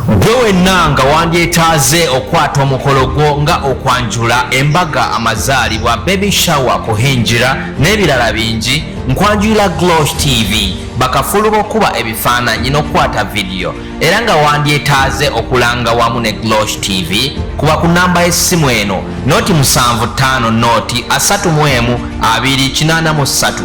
Gwe wenna nga wandyetaaze okukwata omukolo gwo nga okwanjula, embaga, amazaalibwa, baby shower, kuhingira n'ebirala bingi, nkwanjulira Glosh TV, bakafulu b'okukuba ebifaananyi n'okukwata vidiyo era nga wandyetaaze okulanga wamu ne Glosh TV, kuba ku nnamba y'essimu eno, noti musanvu ttaano noti asatu mu emu abiri kinaana mu ssatu.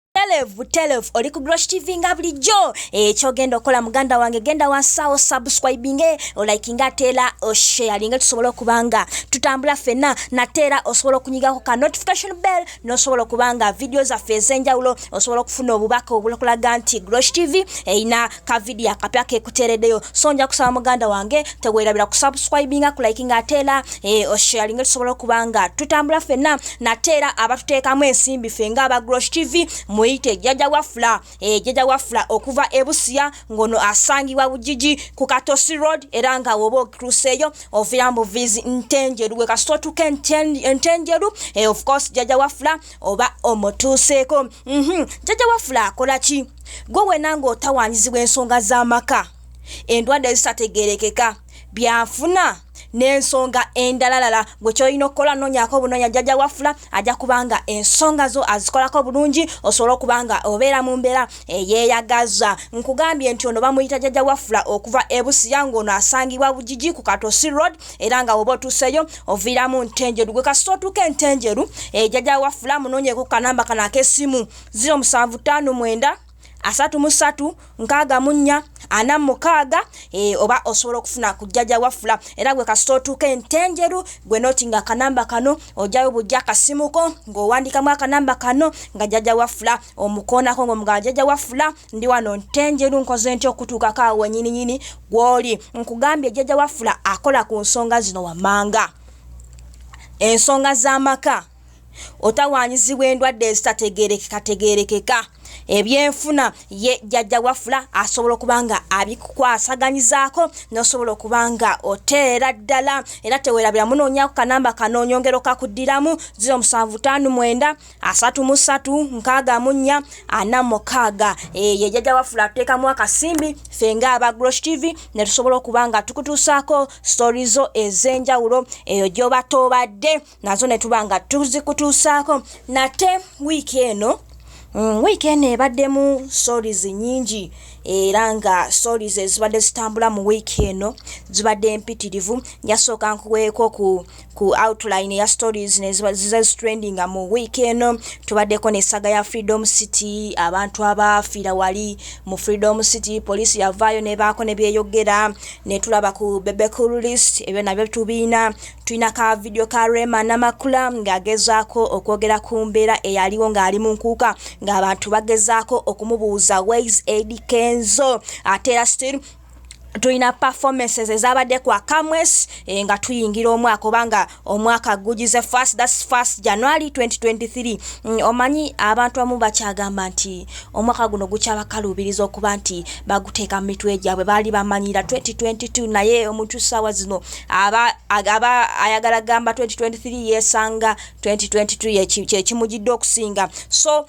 Telev, telev, oli ku Grosh TV nga bulijjo ekyo eh, genda okola muganda wange genda wansawo subscribing eh, olikinga ate era osharinge oh, tusobola okuba nga tutambula fenna nate era osobola okunyigako ka notification bell nosobola okuba nga vidiyo zaffe ez'enjawulo osobola okufuna obubaka obulakulaga nti Grosh TV erina eh, ka video akapya kekutereddeyo so nja kusaba muganda wange tewerabira kusubscribinga kulikinga ate era e, eh, osharinga tusobola okuba nga tutambula fenna nate era abatuteekamu ensimbi fe nga abagrosh tv muyite jjaja wafula e, eh, jjaja wafula okuva ebusiya ngono asangibwa bujiji ku katosi road era nga woba okituuseeyo ovira mu vizi ntenjeru we kasita otuuka entenjeru e, eh, of course jjaja wafula oba omutuuseeko mm -hmm. jjaja wafula akola ki gwe wena ng'otawanyizibwa ensonga z'amaka endwadde ezitategerekeka byanfuna n'ensonga endalalala gwe kyolina okukola noonyako obunoonya jjajja wafula ajja kubanga ensonga zo azikolako bulungi osobole okuba nga obeera mu mbeera eyeeyagaza nkugambye nti ono bamuyita jjajja wafula okuva ebusiya ng'ono asangibwa bugigi ku katosi road era nga woba otuuseyo oviiramu ntenjeru gwe kasita otuuka entenjeru ejjajja eh, wafula munoonyeko kanamba kano ak'essimu ziro musanvu ttaano mwenda asatu mu ssatu nkaaga mu nnya ana mu mukaaga e, oba osobola okufuna ku jjaja wafula era gwe kasita otuuka entenjeru gwe noti nga akanamba kano ojayo bujja akasimuko ng'owandiikamu akanamba kano nga jjaja wafula omukoonako ng'omugala jjaja wafula ndi wano ntenjeru nkoze nti okutuukako awo wenyininyini gw'oli nkugambye jjaja wafula akola ku nsonga zino wammanga ensonga z'amaka otawaanyizibwa endwadde ezitategeerekekategeerekeka ebyenfuna ye jjajja wafula asobola okuba nga abikukwasaganyizaako nosobola okuba nga oteera ddala era tewerabira munoonyaku kanamba kano onyongero kakuddiramu 0759 334 46 ye jjajja wafula atuteekamu akasimbi ffe nga aba grosh tv ne tusobola okuba nga tukutuusaako stori zo ez'enjawulo eyo gy'oba toobadde nazo ne tuba nga tuzikutuusaako nate wiiki eno mm, wiiki eno ebaddemu stories nyingi era nga stories ezibadde zitambula mu wiiki eno zibadde mpitirivu njasooka nkuweeko ku ku outline ya stories nezizazitrendinga mu wiiki eno tubaddeko nesaga ya freedom city abantu abaafiira wali mu freedom city poliisi yavaayo nebaako nebyeyogera netulaba ku bebecool list ebyo nabyo tubiina Tulina ka vidiyo ka Rema Namakula ng'agezaako okwogera ku mbeera eyaliwo ng'ali mu nkuuka ng'abantu bagezaako okumubuuza Ways Eddy Kenzo ate era still tulina performances ezabadde kwa kamwes eh, nga tuyingira omwaka obanga omwaka gugize first thats first january 2023 mm, omanyi abantu abamu bakyagamba nti omwaka guno gukyabakalubiriza okuba nti baguteeka mu mitwe gyabwe baali bamanyira 2022 naye omuntu saawa zino aba agaba ayagala gamba 2023 yesanga 2022 kyekimujidde okusinga so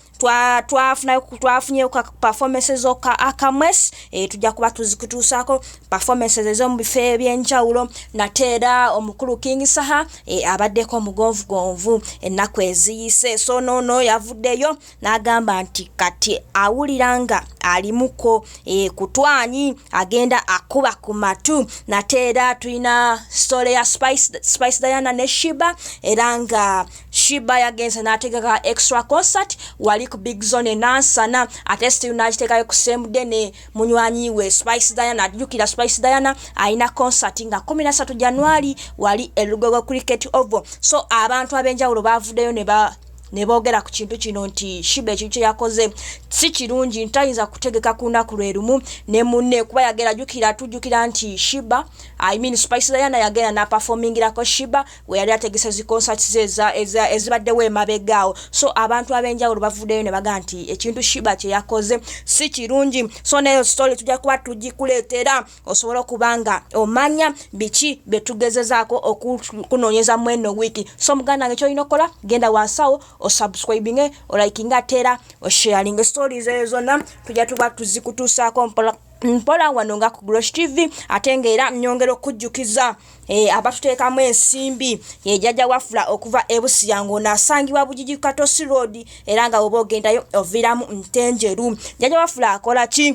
twafunayo twa twafunyeyo ka performances oka akamwes e, tujja kuba tuzikutuusaako performances ezomu bifo ebyenjawulo nate era omukulu king saha e, abaddeko omugonvugonvu ennaku eziyise so nono yavuddeyo n'agamba nti kati awulira nga alimuko e, kutwanyi agenda akuba ku matu nate era tulina sitole ya spice, spice diana ne shiba era nga shiba yagenze n'ategeka extra concert wali ku big zone nansana ate still n'akiteekayo ku semude ne munywanyi we spice diana ajjukira spice diana alina concert nga 13 januari wali elugogo cricket ovo so abantu ab'enjawulo baavuddeyo ne ba ne boogera ku kintu kino nti Shiba ekintu kye yakoze si kirungi, tayinza kutegeka ku lunaku lwe lumu ne munne kuba yagera jukira tujjukira nti Shiba I mean Spice Diana yagenda na performingirako Shiba we yali ategese zi concerts ze ezibaddewo emabega awo so abantu ab'enjawulo bavuddeyo ne baga nti ekintu Shiba kye yakoze si kirungi so neyo story tujja kuba tugikuleetera osobola okuba nga omanya biki bye tugezezaako okukunoonyeza mu eno wiiki so muganda wange kyolina okukola genda wansawo osubscribinge olikinga ate era osharinge stories eyo zonna tujja tuba tuzikutuusaako mpola mpola wano nga ku grosh tv ate ngaera nyongera okujjukiza e, abatuteekamu ensimbi ejajja eh, wafula okuva ebusiya ngaonaasangibwa bujiji katosi road era nga woba ogendayo oviiramu ntenjeru jajja wafula akola ki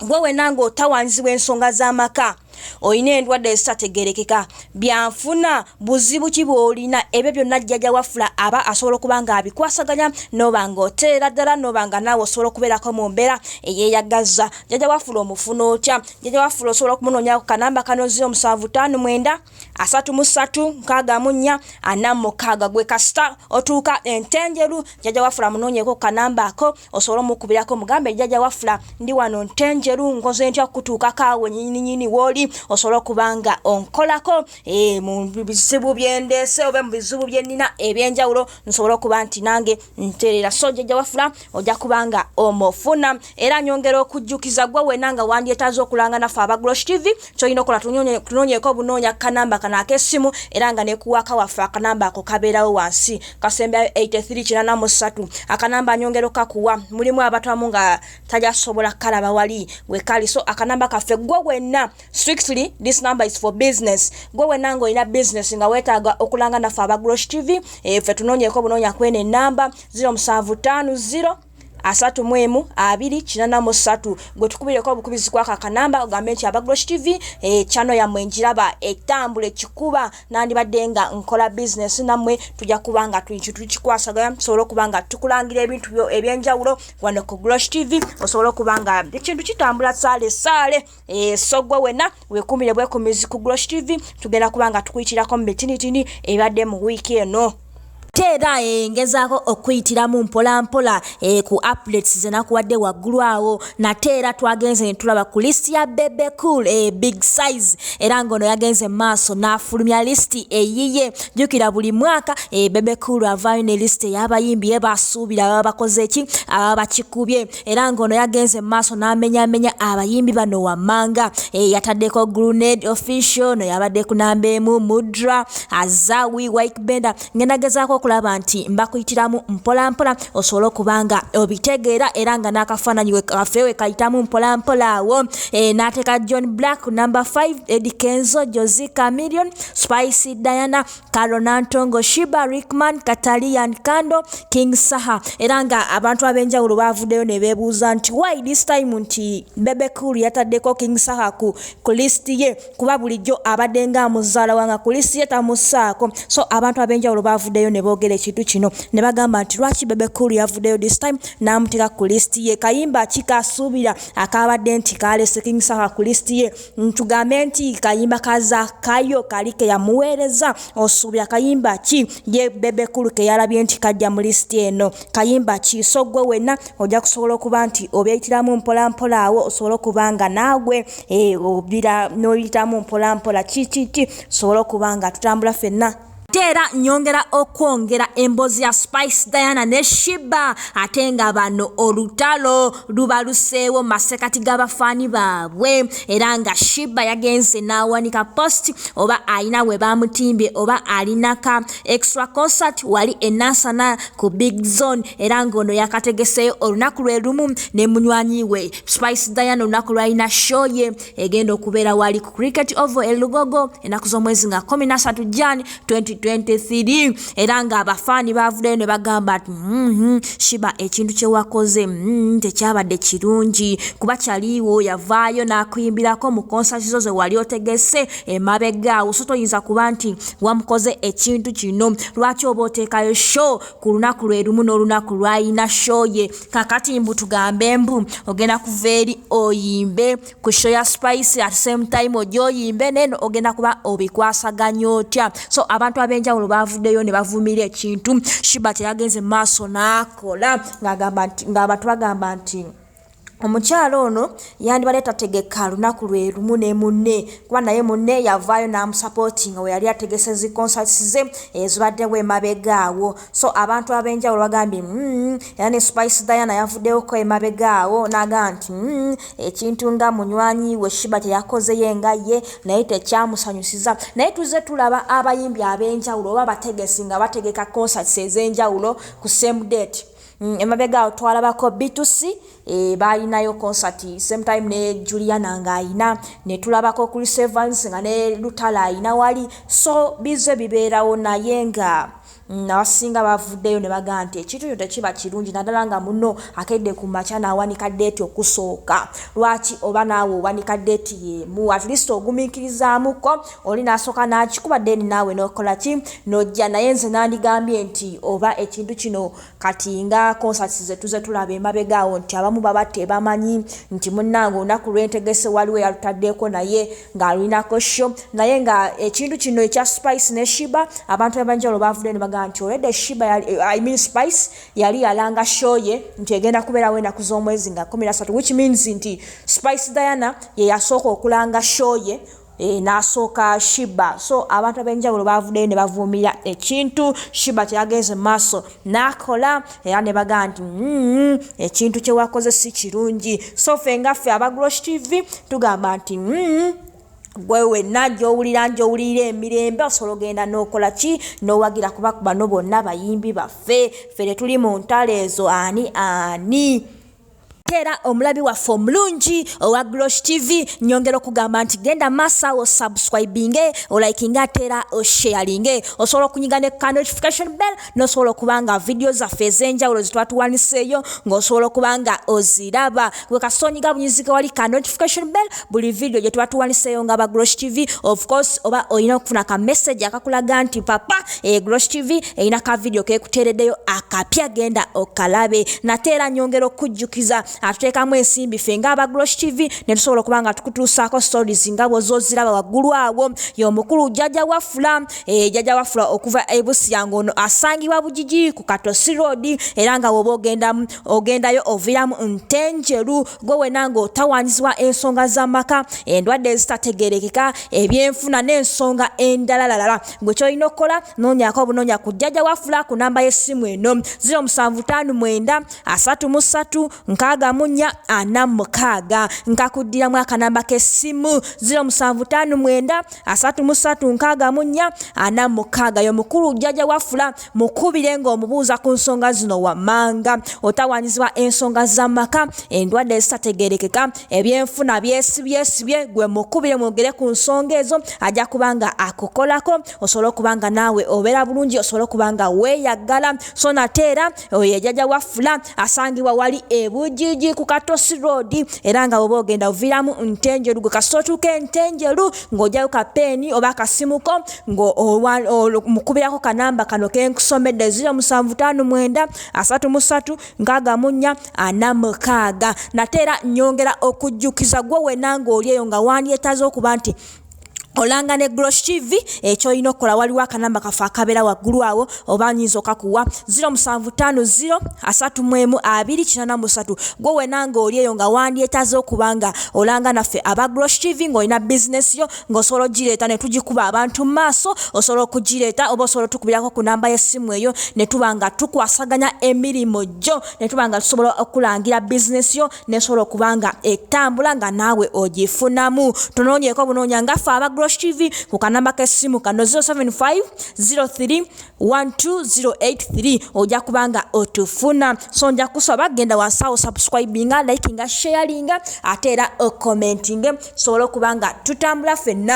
gwe wena ng'otawaanyizibwa ensonga z'amaka olina endwadde ezitategerekeka byanfuna buzibu ki bwolina ebyo byonna jjaja wafula aba asobola okuba nga abikwasaganya noba nga oteera ddala noba nga naawe osobola okubeerako mu mbeera eyeyagaza jjaja wafula omufuna otya jjaja wafula osobola okumunonyako kanamba kano 0759 asatu mu ssatu nkaaga mu nnya ana mu mukaaga gwe kasita otuuka entenjeru jjaja wafula munoonyeko kanamba ako osobole omukubirako mugambe jjaja wafula ndi wano ntenjeru nkoze ntya okutuukako awo nyininyini wooli osobole okuba nga onkolako eh, mu bizibu byendeese oba mu bizibu bye nnina ebyenjawulo nsobole okuba nti nange ntereera so jjaja wafula ojja kubanga omufuna era nyongera okujjukiza gwe wena nga wandyetaaza okulanga naffe abaglosh tv kyolina okola tunonyeko obunoonya kanamba kano akesimu era nga nekuwaka waffe akanamba ako kabeerawo wansi kasembyayo 8383 akanamba nyongera okakuwa mulimu abatwamu nga tajasobola kalaba wali wekali so akanamba kaffe gwe wenna strictly this number is for business gwe wenanga olina business nga wetaaga okulanga naffe aba grosh tv efe eh, tunonyeko bunonya kwene enamba 0750 asatu mu emu abiri kinana mu satu gwe tukubireko obukubizi kwaka kanamba ogambe nti aba grosh tv ekyano eh, yamwe njiraba etambula ekikuba nandibadde nga nkola bizinesi nammwe tujja kuba nga tuinki tukikwasagaya tusobole okuba nga tukulangira ebintu byo ebyenjawulo wano ku grosh tv osobole okuba nga ekintu kitambula saale saale Eh, so gwe wena wekumire bwekumizi ku grosh tv tugenda kuba nga tukuyitirako mu bitinitini ebadde mu wiiki eno teera engezaako eh, okuyitiramu mpolampola eh, ku aplets zenakuwadde waggulu awo nate era twagenze ne tulaba ku lisiti ya bebe cool eh, big size era ng'ono yagenze mu maaso n'afulumya lisiti eyiye jjukira buli mwaka bebe cool avaayo ne lisiti ey'abayimbi ye basuubira baba bakoze ki ababa bakikubye era ng'ono yagenze mu maaso n'amenyamenya abayimbi bano wammanga eh, yataddeko grunade official no yabadde ku namba emu mudra azawi wike benda ngenda gezaako okulaba nti mbakuyitiramu mpolampola osobole okuba nga obitegeera era nga n'akafaananyi waffe we kayitamu mpolampola awo eh, n'ateeka john black number 5 edikenzo josi camillion spicy diana Karo Nantongo, Shiba Rickman, Katalian Kando, King Saha era nga abantu ab'enjawulo baavuddeyo ne beebuuza nti why this time nti Bebe Cool yataddeko King Saha ku, ku list ye kuba bulijjo abadde nga amuzaala wanga ku list ye tamusaako so abantu ab'enjawulo baavuddeyo ne boogera ekintu kino ne bagamba nti lwaki Bebe Cool yavuddeyo this time n'amuteeka ku list ye kayimba kikasuubira akaabadde nti kaalese King Saha ku list ye ntugambe nti kayimba ka zakayo kali keyamuweereza osuubira kayimba ki ye bebekulu keyalabye nti kajja mu lisiti eno kayimba ki so gwe wenna ojja kusobola okuba nti obyeyitiramu mpolampola awo osobole okuba nga naagwe eh, obira n'oyitamu mpolampola kikiki tusobole okuba nga tutambula fenna ate era nyongera okwongera emboozi ya spice diana ne shiba ate nga bano olutalo lubaluseewo masekati g'abafaani baabwe era nga shiba yagenze n'awanika post oba alina we bamutimbye oba alinaka extra concert wali enasana ku big zone era ng'ono yakategeseeyo olunaku lwe lumu ne munywanyi we spice diana olunaku lwalina show ye egenda okubeera wali ku cricket ovo e lugogo enaku z'omwezi nga 13 jan 2023 era nga abafaani bavuddeyo ne bagamba nti mm-hmm, shiba ekintu kyewakoze mm-hmm, tekyabadde kirungi kuba kyaliiwo yavaayo n'akuyimbirako mu konsati zo ze wali otegese emabega awo so toyinza kuba nti wamukoze ekintu kino lwaki oba oteekayo show ku lunaku lwe lumu n'olunaku lwayina show ye kakati mbu tugambe mbu ogenda kuva eri oyimbe ku show ya spice at same time oja oyimbe neno ogenda kuba obikwasaganya otya so abantu abenjawulo bavuddeyo ne bavumira ekintu shiba teyagenze maaso n'akola ng'abantu bagamba nti omukyala ono yandibadde tategeka lunaku lwe lumu ne munne kuba naye munne yavaayo n'amusapootinga we yali ategese zi concerts ze ezibaddewo emabega awo so abantu ab'enjawulo bagambye mm, era ne spice diana yavuddewoko emabega awo n'agamba nti mm, ekintu nga munywanyi we shiba teyakozeyo enga ye naye tekyamusanyusiza naye tuzze tulaba abayimbi ab'enjawulo oba abategesi nga bategeka concerts ez'enjawulo ku same date mm, emabega awo twalabako bitusi e, eh, baalinayo concert same time ne juliana ng'alina ne tulabako chris evans nga ne lutala alina wali so bizze bibeerawo naye nga Nabasinga bavuddeyo ne bagamba nti ekintu kino tekiba kirungi naddala nga munno akedde ku makya n'awanika ddeeti okusooka. Lwaki oba naawe owanika ddeeti y'emu? At least ogumiikirizaamuko oli n'asooka n'akikuba then naawe n'okola ki? N'ojja. Naye nze nandigambye nti oba ekintu kino Kati nga concerts zetuze tulaba emabega awo nti abamu baba tebamanyi nti munange olunaku lwentegese waliwo eyalutaddeeko naye nga alulinako show naye nga ekintu kino ekya spice ne shiba abantu abenjawulo bavuddeyo nebagamba nti already shiba yali, eh, I mean spice yali yalanga show ye nti egenda kubeerawo enaku z'omwezi nga kumi nasatu which means nti spice diana yeyasooka okulanga show ye Eh, nasooka shiba so abantu abenjawulo bavudeyo ne bavuumira ekintu shiba kyeyagenze maaso nakola era ne bagaa nti mm, ekintu kyewakoze si kirungi so fe nga ffe abagrosh tv tugamba nti mm, gwe wenna gyowulira njowulira emirembe osobola ogenda nokola ki nowagira kuba bano bonna bayimbi baffe ffe tetuli mu ntalo ezo ani ani ate era omulabi waffe omulungi owa glosh tv nyongera okugamba nti genda maaso awo subscribinge olikinge ate era osharinge osobola okunyiga ne ka notification bell nosobola okuba nga vidiyo zaffe ez'enjawulo zetwatuwaniseeyo ng'osobola okuba nga oziraba gwe kasita onyiga bunyizike wali ka notification bell buli video gye tuba tuwaniseeyo nga ba Grosh TV of course oba olina okufuna ka message akakulaga nti papa e Grosh TV erina ka video kekuteereddeyo akapya genda okalabe nate era nyongera okujjukiza atuteekamu ensimbi ffe nga aba Grosh TV ne tusobola okuba nga tukutuusaako stories nga bwozoziraba waggulu awo y'omukulu jjaja wafula e, jjaja wafula okuva e Busia ng'ono asangibwa Bugigi ku Katosi Road era nga woba ogendamu ogendayo oviramu nte njeru gwe wena nga otawanyizibwa ensonga zamaka endwadde ezitategerekeka ebyenfuna nensonga endalalalala gwe kyolina okukola nonyako obunonya ku jjaja wafula ku namba yesimu eno 07533446 nkakuddiramu akanamba kesimu 07533446 yomukulu jjaja wafula Mukubire ng'omubuuza ku nsonga zino wammanga, Otawaanyizibwa ensonga z'amaka, endwadde ezitategeerekeka, ebyenfuna byesibyesibye, gwe mukubire mwogere ku nsonga ezo ajja kuba nga akukolako osobole okuba nga naawe obeera bulungi osobole okuba nga weeyaggala so nate era oyo ejaja waffula asangibwa wali ebujiji ku katosi road era nga bwoba ogenda oviiramu ntenjeru gwe kasita otuuka entenjeru ng'ojayo kapeeni oba akasimuko ng'omukubirako kanamba kano ke nkusomedde 07533646 nate era nyongera okujjukiza gwe wena ng'oli eyo nga wandyetaze okuba nti olanga ne grosh tv ekyolina okukola waliwo akanamba kaffe akabeera waggulu awo oba nyinza okakuwa 07503123 gwe wena ng'oli eyo nga wandyetaze okuba nga olanga naffe aba grosh tv ng'olina bizinesi yo ng'osobola ogireeta ne tugikuba abantu mu maaso osobola okugireeta oba osobola otukubirako ku namba y'essimu eyo ne tuba nga tukwasaganya emirimu gyo ne tuba nga tusobola okulangira bizinesi yo nesobola okuba nga etambula nga naawe ogifunamu tunoonyeko bunoonya ngaffe aba grosh tv ku kanamba k'essimu kano 075 03 12083 ojja kubanga otufuna so nja kusaba genda wansawo subscribinga likinga sharinga ate era okomentinge sobola okubanga tutambula fenna